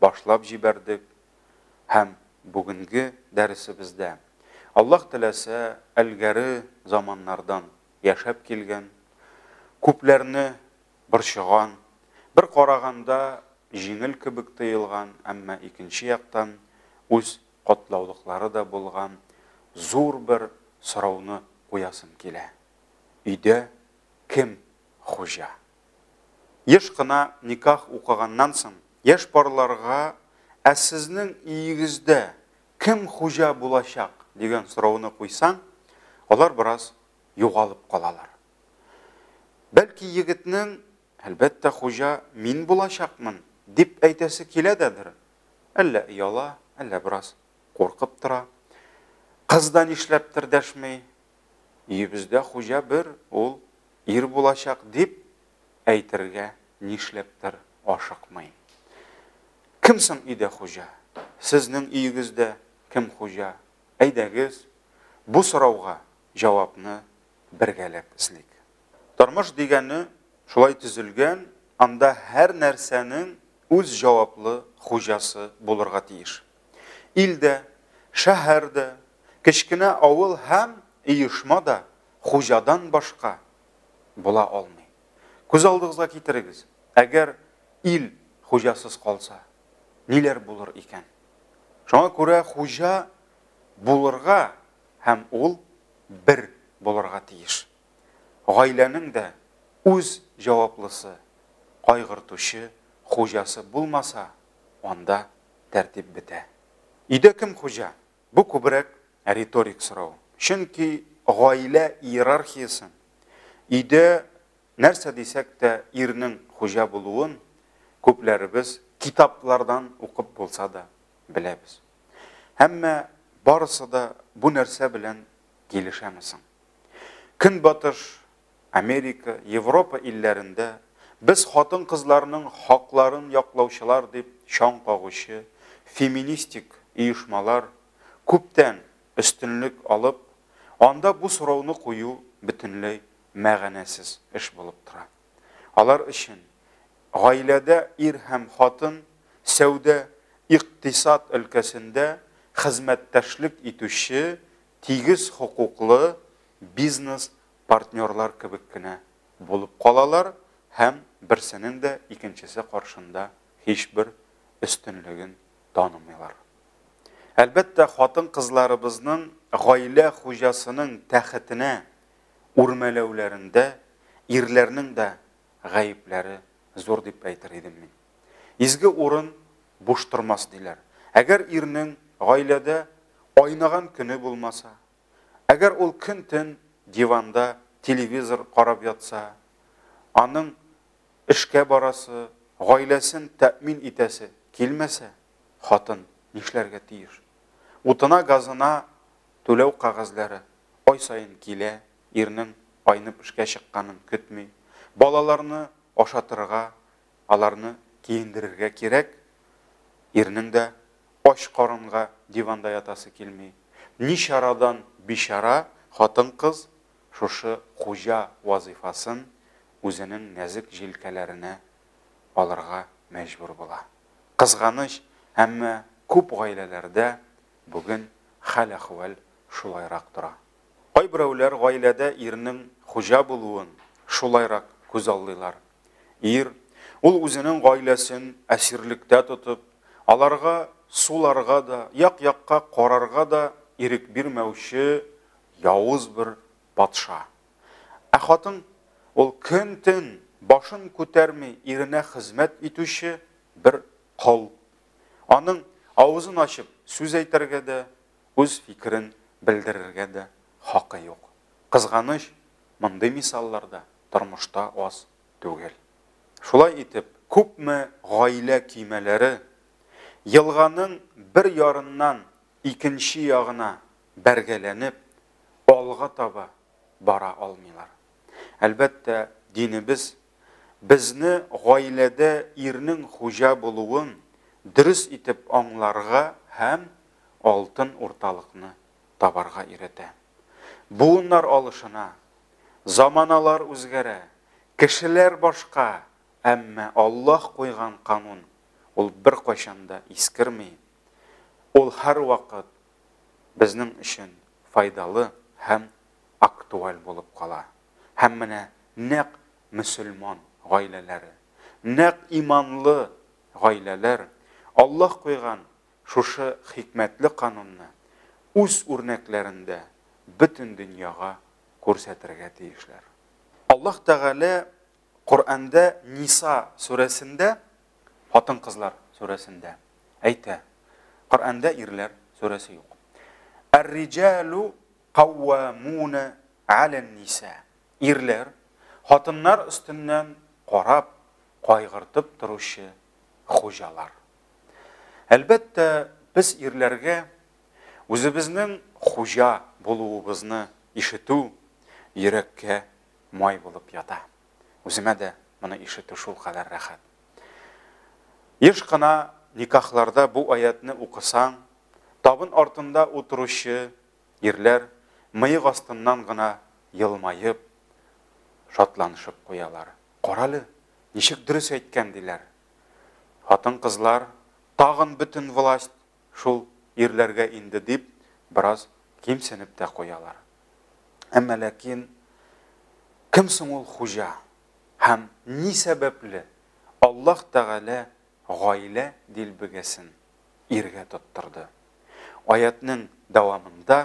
башлап җибәрдек һәм бүгенге дәресебездә, Аллаһ теләсә, элгәре заманнардан яшәп килгән, күпләрне борчыган, бер караганда җиңел кебек тоелган, әмма икенче яктан үз катлаулыклары да булган зур бер сорауны куясым килә, өйдә кем хуҗа? Еш кына никах укыганнан соң, яшь парларга Ә сезнең өегездә кем хуҗа булачак? дигән сорауны куйсаң, алар бераз югалып калалар. Бәлки егетнең, Әлбәттә, хуҗа мин булачакмын, дип әйтәсе килә дәдер. Әллә ояла, әллә бераз куркып тора. Кыз да нишләптер дәшми, Өебездә хуҗа бер, ул ир булачак, дип әйтергә нишләптер ашыкмый. Кем соң өйдә хуҗа? Сезнең өегездә кем хуҗа? Әйдәгез, бу сорауга җавапны бергәләп эзлик. Тормыш дигәне шулай төзелгән, анда һәр нәрсәнең үз җаваплы хуҗасы булырга тиеш. Ил дә, шәһәр дә, кечкенә авыл һәм оешма да хуҗадан башка була алмый. Күз алдыгызга китерегез, әгәр ил хуҗасыз калса, ниләр булыр икән? Шуңа күрә хуҗа булырга һәм ул бер булырга тиеш. Гаиләнең дә үз җаваплысы, кайгыртучы хуҗасы булмаса, анда тәртип бетә. Өйдә кем хуҗа? Бу күбрәк риторик сорау. Чөнки гаилә иерархиясен, өйдә нәрсә дисәк тә ирнең хуҗа булуын күпләребез китаплардан укып булса да беләбез. Әмма барысы да бу нәрсә белән килешәме соң? Көнбатыш Америка, Европа илләрендә без хатын-кызларның хакларын яклаучылар дип чаң кагучы феминистик оешмалар күптән өстенлек алып, анда бу сорауны кую бөтенләй мәгънәсез эш булып тора. Алар өчен гаиләдә ир һәм хатын сәүдә, икътисад өлкәсендә хезмәттәшлек итүче тигез хокуклы бизнес партнерлар кебек кенә булып калалар һәм берсенең дә икенчесе каршында һичбер өстенлеген танымыйлар. Әлбәттә, хатын-кызларыбызның гаилә хуҗасының тәхетенә үрмәләүләрендә ирләрнең дә гаепләре зур дип әйтер идем мин. Изге урын буш тормас, диләр. Әгәр ирнең гаиләдә айнаган көне булмаса, Әгәр ул көн-төн диванда телевизор карап ятса, аның эшкә барасы, гаиләсен тәэмин итәсе килмәсә, хатын нишләргә тиеш? Утына-газына түләү кәгазьләре ай саен килә, ирнең айнып эшкә чыкканын көтми, балаларны ашатырга, Аларны киендерергә кирәк, ирнең дә ач карынга диванда ятасы килми. Ни чарадан бичара хатын-кыз шушы хуҗа вазыйфасын үзенең нәзек җилкәләренә алырга мәҗбүр була. Кызганыч, әмма күп гаиләләрдә бүген хәл-әхвәл шулайрак тора. Кайберәүләр гаиләдә ирнең хуҗа булуын шулайрак күзаллыйлар. Ир, ул үзенең гаиләсен әсирлектә тотып, аларга суларга да, як-якка карарга да ирек бирмәүче явыз бер патша. Ә хатын, ул көн-төн башын күтәрми иренә хезмәт итүче бер кол. Аның авызын ачып сүз әйтергә дә, үз фикерен белдерергә дә хакы юк. Кызганыч, мондый мисаллар да тормышта аз түгел. Шулай итеп, күпме гаилә көймәләре елганың бер ярыннан икенче ягына бәргәләнеп, алга таба бара алмыйлар. Әлбәттә, динебез безне гаиләдә ирнең хуҗа булуын дөрес итеп аңларга һәм алтын урталыкны табарга өйрәтә. Буыннар алышына, заманалар үзгәрә, кешеләр башка, әмма Аллаһ куйган канун, ул беркайчан да искерми, ул һәрвакыт безнең өчен файдалы һәм актуаль булып кала. Һәм менә нәкъ мөселман гаиләләре, нәкъ иманлы гаиләләр Аллаһ куйган шушы хикмәтле канунны үз үрнәкләрендә бөтен дөньяга күрсәтергә тиешләр. Аллаһ Тәгалә Коръәндә Ниса сүрәсендә, Хатын-кызлар сүрәсендә әйтә. Коръәндә Ирләр сүрәсе юк. Әр-риҗәлү Кауамуна алән-ниса. Ирләр, хатыннар өстеннән карап, кайгыртып торучы хуҗалар. Әлбәттә, без ирләргә үзебезнең хуҗа булуыбызны ишетү йөрәккә май булып ята. Үземә дә моны ишетү шулкадәр рәхәт. Еш кына никахларда бу аятьне укысаң, табын артында утыручы Ирләр мыек астыннан гына елмаеп, шатланышып куялар. Карале, ничек дөрес әйткән, диләр. Хатын-кызлар, тагын бөтен власть шул ирләргә инде, дип, бераз кимсенеп тә куялар. Әмма ләкин кем соң ул хуҗа? Һәм ни сәбәпле Аллаһ Тәгалә гаилә дилбегәсен иргә тоттырды. Аятьнең дәвамында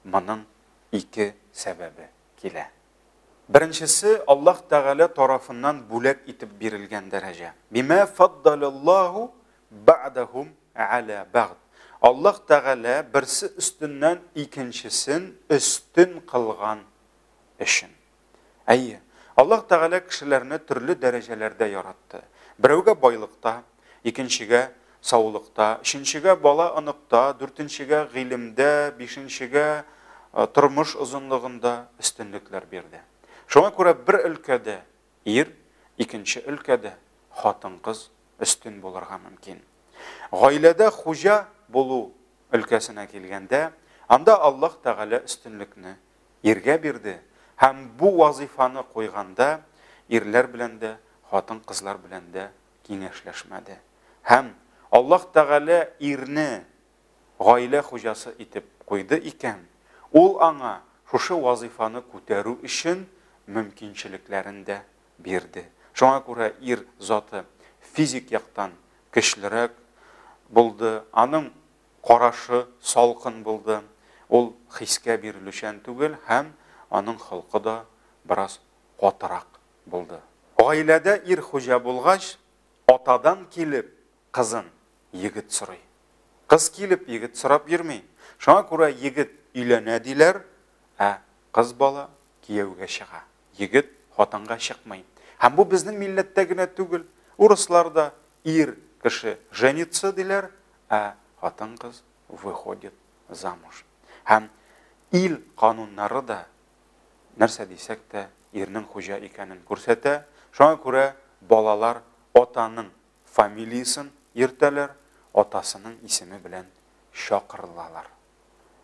моның ике сәбәбе килә. Беренчесе, Аллаһ Тәгалә тарафыннан бүләк итеп бирелгән дәрәҗә. Бима фаддалаллаһу бәгъдәһум гәлә бәгъд. Аллаһ Тәгалә берсе өстеннән икенчесен өстен кылган өчен. Әйе, Аллаһ Тәгалә кешеләрне төрле дәрәҗәләрдә яратты. Берәүгә байлыкта, икенчегә саулыкта, өченчегә бала-оныкта, дүртенчегә гыйлемдә, бишенчегә тормыш озынлыгында өстенлекләр бирде. Шуңа күрә бер өлкәдә ир, икенче өлкәдә хатын-кыз өстен булырга мөмкин. Гаиләдә хуҗа булу өлкәсенә килгәндә, анда Аллаһ Тәгалә өстенлекне иргә бирде һәм бу вазыйфаны куйганда ирләр белән дә, хатын-кызлар белән дә киңәшләшмәде. Һәм Аллаһ Тәгалә ирне гаилә хуҗасы итеп куйды икән, Ул аңа шушы вазыйфаны күтәрү өчен мөмкинчелекләрен дә бирде. Шуңа күрә ир заты физик яктан көчлерәк булды, аның Карашы салкын булды, ул хискә бирелүчән түгел һәм аның холкы да бераз катырак булды. Гаиләдә ир хуҗа булгач, атадан килеп кызын егет сорый. Кыз килеп егет сорап йөрми. Шуңа күрә егет өйләнә диләр, ә кыз бала кияүгә чыга. Егет хатынга чыкмый. Һәм бу безнең милләттә генә түгел, урыслар да, ир кеше женится диләр, ә хатын-кыз выходит замуж. Һәм ил кануннары да, нәрсә дисәк тә, ирнең хуҗа икәнен күрсәтә. Шуңа күрә балалар атаның фамилиясен йөртәләр, атасының исеме белән чакырылалар.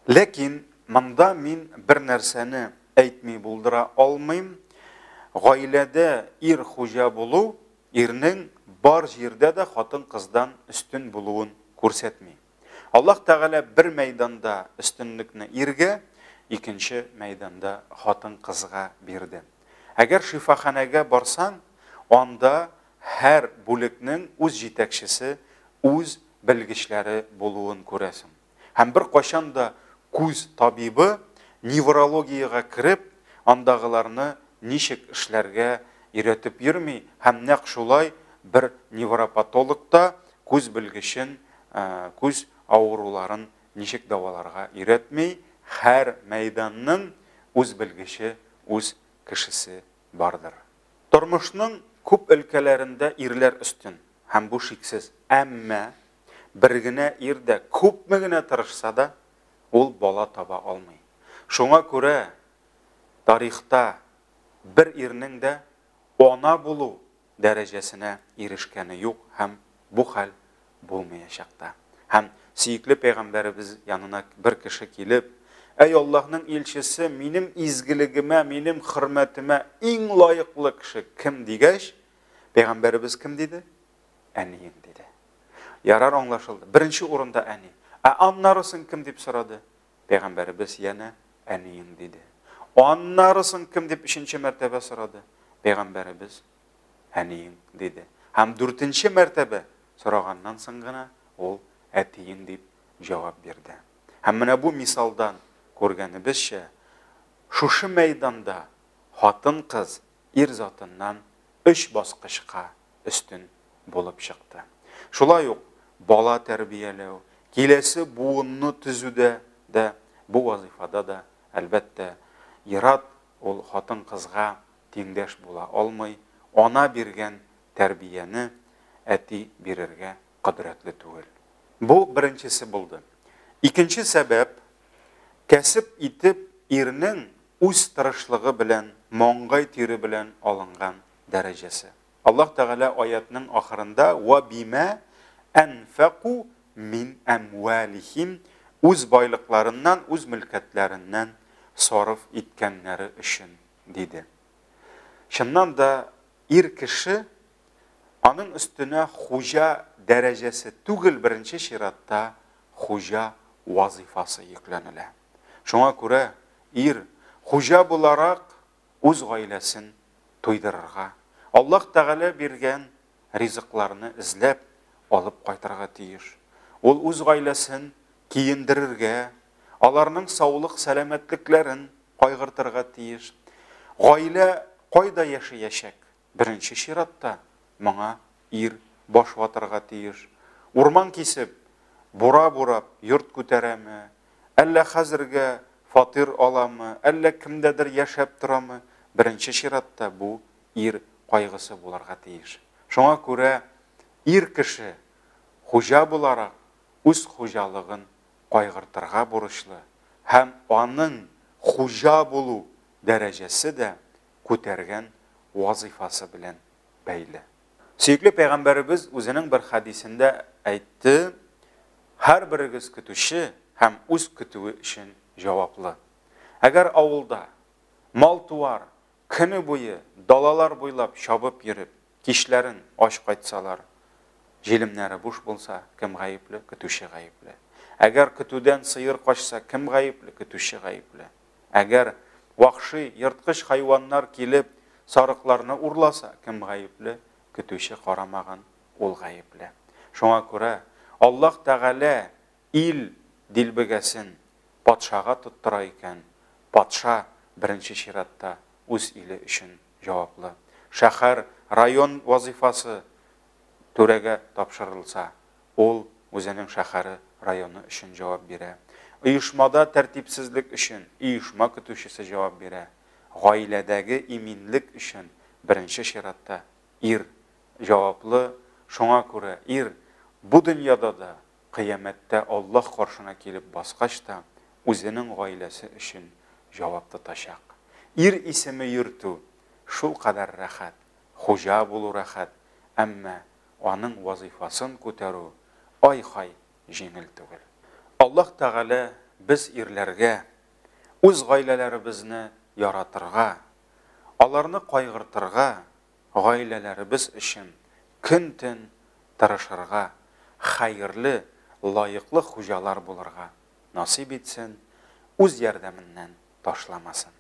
Ләкин монда мин бер нәрсәне әйтми булдыра алмыйм, гаиләдә ир хуҗа булу ирнең бар җирдә дә хатын-кыздан өстен булуын күрсәтми. Аллаһ Тәгалә бер мәйданда өстенлекне иргә, икенче мәйданда хатын-кызга бирде. Әгәр шифаханәгә барсаң, анда һәр бүлекнең үз җитәкчесе, үз белгечләре булуын күрәсең. һәм беркайчан да күз табибы неврологиягә кереп, андагыларны ничек эшләргә өйрәтеп йөрми һәм нәкъ шулай бер невропатолог та күз белгечен күз авыруларын ничек дәваларга өйрәтми, һәр мәйданның үз белгече, үз кешесе бардыр. Тормышның күп өлкәләрендә ирләр өстен һәм бу шиксез, әмма Бер генә ир дә күпме генә тырышса да, ул бала таба алмый. Шуңа күрә тарихта бер ирнең дә ана булу дәрәҗәсенә ирешкәне юк һәм бу хәл булмыячак та. Һәм сөекле пәйгамбәребез янына бер кеше килеп, Әй Аллаһның илчесе, минем изгелегемә, минем хөрмәтемә иң лаеклы кеше кем? дигәч, пәйгамбәребез кем диде? Әнием, диде. Ярар, аңлашылды. Беренче урында әни. Ә аннары соң кем дип сорады? Пәйгамбәребез янә әнием, диде. Аннары соң кем дип өченче мәртәбә сорады? Пәйгамбәребез әнием, диде. Һәм дүртенче мәртәбә сораганнан соң гына ул әтием дип җавап бирде. Һәм менә бу мисалдан күргәнебезчә, шушы мәйданда хатын-кыз ир затыннан өч баскычка өстен булып чыкты. Шулай ук бала тәрбияләү, киләсе буынны төзүдә дә, бу вазыйфада да, әлбәттә, ир-ат ул хатын-кызга тиңдәш була алмый, ана биргән тәрбияне әти бирергә кодрәтле түгел. Бу беренчесе булды. Икенче сәбәп, кәсеп итеп ирнең үз тырышлыгы белән, маңгай тире белән алынган дәрәҗәсе. Аллаһ Тәгалә аятның ахырында ва бимә әнфәку мин әмвалихим үз байлыкларыннан, үз мөлкәтләреннән сарыф иткәннәре өчен, диде. Чыннан да, ир кеше Аның өстенә хуҗа дәрәҗәсе түгел, беренче чиратта хуҗа вазыйфасы йөкләнелә. Шуңа күрә ир хуҗа буларак үз гаиләсен туйдырырга, Аллаһ Тәгалә биргән ризыкларны эзләп алып кайтырга тиеш. Ул үз гаиләсен киендерергә, аларның саулык-сәламәтлекләрен кайгыртырга тиеш. Гаилә кайда яшәячәк? Беренче чиратта, моңа ир баш ватарга тиеш. Урман кисеп, бура бурап, йорт күтәрәме, әллә хәзергә фатир аламы, әллә кемдәдер яшәп торамы, беренче чиратта бу ир кайгысы булырга тиеш. Шуңа күрә ир кеше, хуҗа буларак, үз хуҗалыгын кайгыртырга бурычлы һәм аның хуҗа булу дәрәҗәсе дә күтәргән вазыйфасы белән бәйле. Сөекле пәйгамбәребез үзенең бер хәдисендә әйтте, һәрберегез көтүче һәм үз көтүе өчен җаваплы. Әгәр авылда мал-туар көне буе далалар буйлап чабып йөреп, кичләрен ач кайтсалар, җилемнәре буш булса, кем гаепле? Көтүче гаепле. Әгәр көтүдән сыер качса, кем гаепле? Көтүче гаепле. Әгәр вахши, ерткыч хайваннар килеп, сарыкларны урласа, кем гаепле? Көтүче карамаган, ул гаепле. Шуңа күрә Аллаһ Тәгалә ил дилбегәсен патшага тоттыра икән, патша беренче чиратта үз иле өчен җаваплы. Шәһәр, район вазыйфасы түрәгә тапшырылса, Ул үзенең шәһәре, районы өчен җавап бирә. Оешмада тәртипсезлек өчен оешма көтүчесе җавап бирә. Гаиләдәге иминлек өчен беренче чиратта ир җаваплы, шуңа күрә ир бу дөньяда да, кыямәттә Аллаһ каршына килеп баскач та, үзенең гаиләсе өчен җавап тотачак. Ир исеме йөртү шулкадәр рәхәт, хуҗа булу рәхәт, әмма аның вазыйфасын күтәрү ай-һай җиңел түгел. Аллаһ Тәгалә без ирләргә үз гаиләләребезне яратырга, аларны кайгыртырга, гаиләләребез өчен көн-төн тырышырга, хәерле, лаеклы хуҗалар булырга насыйп итсен, үз ярдәменнән ташламасын.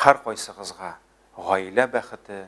Һәркайсыгызга гаилә бәхете,